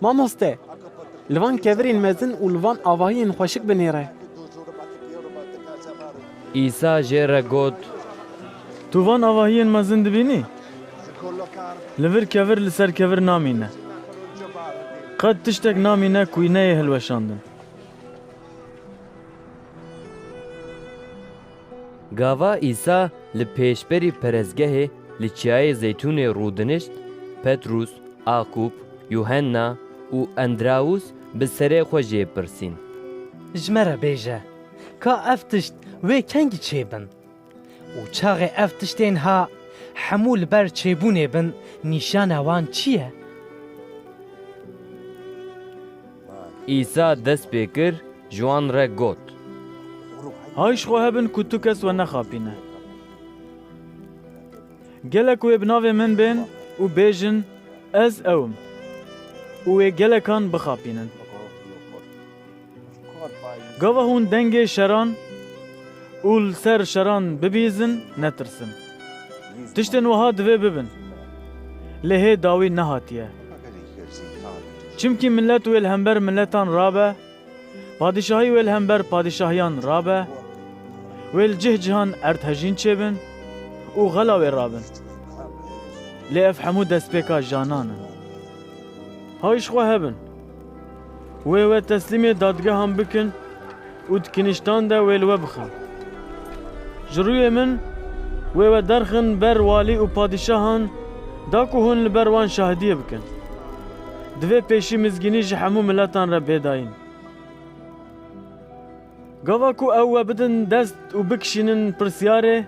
Mamoste! Li van kevirên mezin û li van avahiyên xweşik binêre. Îsa jê re got. Tu van avahiyên mezin dibînî? Li vir kevir li ser kevir namîne. Qet tiştek namîne ku wî neyê hilweşandin. Gava Îsa li pêşberî perestgehê li Çiyayê Zeytûnê rûdinişt, Petrûs, Aqûb, Yuhenna û Endrawûs bi serê xwe jê pirsîn. Ji me re bêje, ka ev tişt wê kengî çêbin? Û çaxê ev tiştên ha hemû li ber çêbûnê bin nîşana wan çi ye? Îsa dest pê kir, ji wan re got. Hay ji xwe hebin ku tu kes we nexapîne. Gelek wê bi navê min bên û bêjin, Ez ew im, û wê gelekan bixapînin. Gava hûn dengê şeran û li ser şeran bibîzin, netirsin. Tiştên wiha divê bibin. Lê hê dawî nehatiye. Çimkî milet wê li hember miletan rabe, padîşahî wê li hember padîşahiyan rabe, wê li cih cihan erdhejîn çêbin û xela wê rabin. Lê ev hemû destpêka janan in. Hay ji xwe hebin. Wê we teslîmê dadgehan bikin û di kiniştan de wê li we bixin. Ji rûyê min wê we derxin ber walî û padîşahan da ku hûn li ber wan şahidiyê bikin. Divê pêşî mizgînî ji hemû miletan re bê dayîn. Gava ku ew we bidin dest û bikişînin pirsyarê,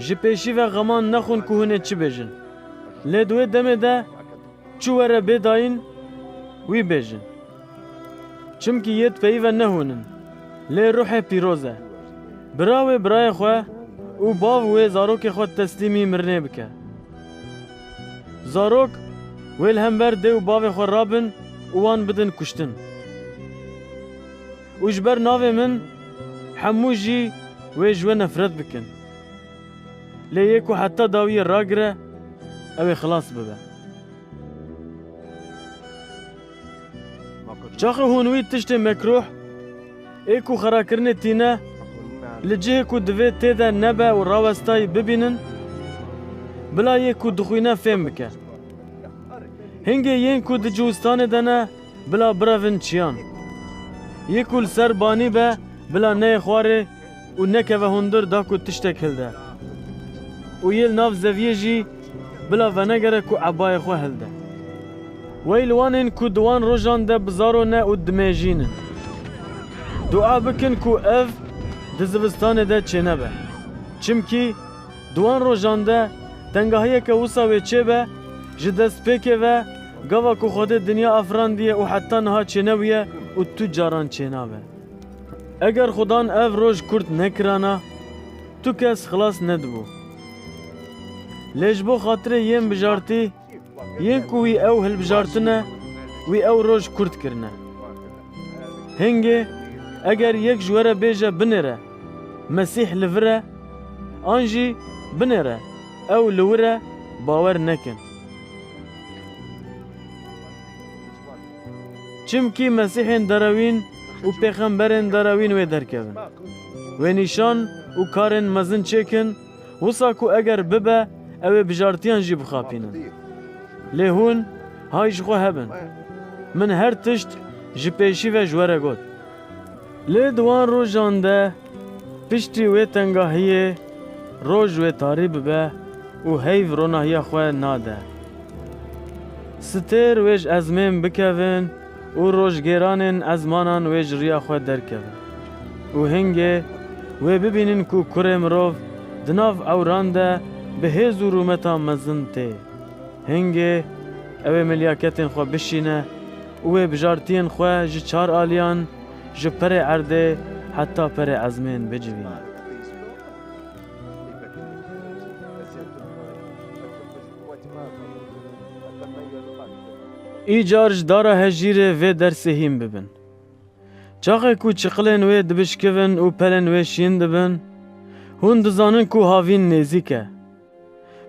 Ji pêşî ve xeman nexwin ku hûn ê çi bêjin. Lê di wê demê de çi were bê dayîn wî bêjin. Çimkî yê di peyîve ne hûn in, lê ruhê pîroz e. Bira wê birayê xwe û bav wê zarokê xwe teslîmî mirinê bike. Zarok wê li hember dê û bavê xwe rabin û wan bidin kuştin. Û ji ber navê min hemû jî wê ji we nefret bikin. Lê yê ku heta dawiyê ragire, ew ê xilas bibe. Çaxê hûn wî tiştê mekruh ê ku xirakirinê tîne li cihê ku divê tê de nebe û rawestayî bibînin, bila yê ku dixwîne fêm bike. Hingê yên ku di ciwistanê de ne, Bila birevin çiyan. Yê ku li ser banî be bila neyê xwarê û nekeve hundir da ku tiştek hilde. Û yê li nav zeviyê jî bila venegere ku ebayê xwe hilde. Wey li wan ên ku di wan rojan de bi zaro ne û dimejîn in. Dua bikin ku ev di zivistanê de çênebe. Çimkî Di wan rojan de tengahiyeke wisa wê çêbe, ji destpêkê ve gava ku Xwedê dinya afirandiye û heta niha çênebûye û tu caran çênabe. Eger Xwedan ev roj kurt nekirana, tu kes xilas nedibû. Lê ji bo xatirê yên bijartî, Yê ku wî ew hilbijartine wî ew roj kurt kirine. Hingê eger yek ji we re bêje binêre Mesîh li vir e an jî binêre ew li wir e bawer nekin. Çimkî Mesîhên derewîn û pêxemberên derewîn wê derkevin. Wê nîşan û karên mezin çêkin Wisa ku eger bibe ew ê bijartiyan jî bixapînin. Lê hûn hay ji xwe hebin. Min her tişt ji pêşî ve ji we re got. Lê di wan rojan de piştî wê tengahiyê roj wê tarî bibe û heyv ronahiya xwe nade. Stêr wê ji ezmên bikevin. Û roj gêranên ezmanan wê ji riya xwe derkevin. Û hingê wê bibînin ku Kurê Mirov di nav ewran de bi hêz û rûmeta mezin tê. Hingê ew ê milyaketên xwe bişîne û wê bijartiyên xwe ji çar aliyan, ji perê erdê heta perê ezmên bicivîne. Îcar ji dara hejîrê vê dersê hîn bibin. Çaxê ku çiqilên wê dibişkivin û pelên wê şîn dibin, hûn dizanin ku havîn nêzîk e.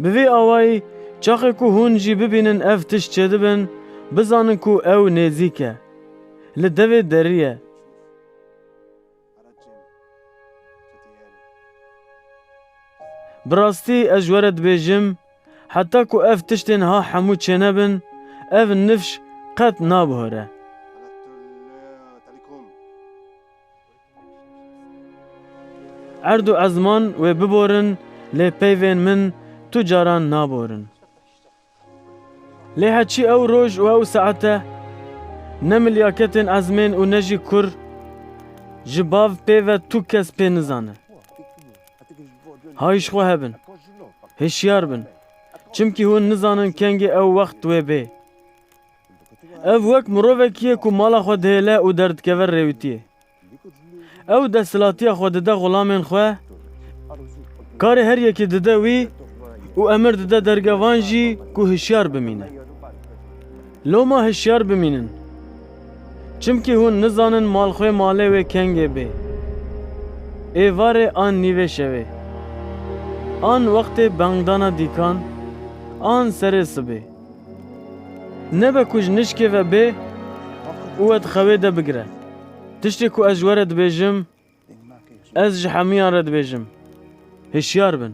Bi vî awayî çaxê ku hûn jî bibînin ev tişt çêdibin, bizanin ku ew nêzîk e. Li devê derî ye. Bi rastî ez ji we re dibêjim, heta ku ev tiştên ha hemû çênebin, ev nifş qet nabihore. Erd û ezman wê biborin lê peyvên min tu caran naborin. Lê heçî ew roj û ew saete ne milyaketên ezmên û ne jî kur ji bav pê ve tu kes pê nizane. Hayîşxwe hebin, hişyar bin, çimkî hûn nizanin kengê ew wext wê bê. Ev wek mirovekî ye ku mala xwe dihêle û derdikeve rêwîtiyê. Ew desthilatiya xwe dide xulamên xwe, karê her yekê dide wî û emir dide dergevan jî ku hişyar bimîne. Loma hişyar bimînin, çimkî hûn nizanin malxwê malê wê kengê bê, êvarê an nîvê şevê, an wextê bangdana dîkan, an serê sibê. Nebe ku ji nişkê ve bê û we di xewê de bigire. Tiştê ku ez ji we re dibêjim, ez ji hemûyan re dibêjim, hişyar bin.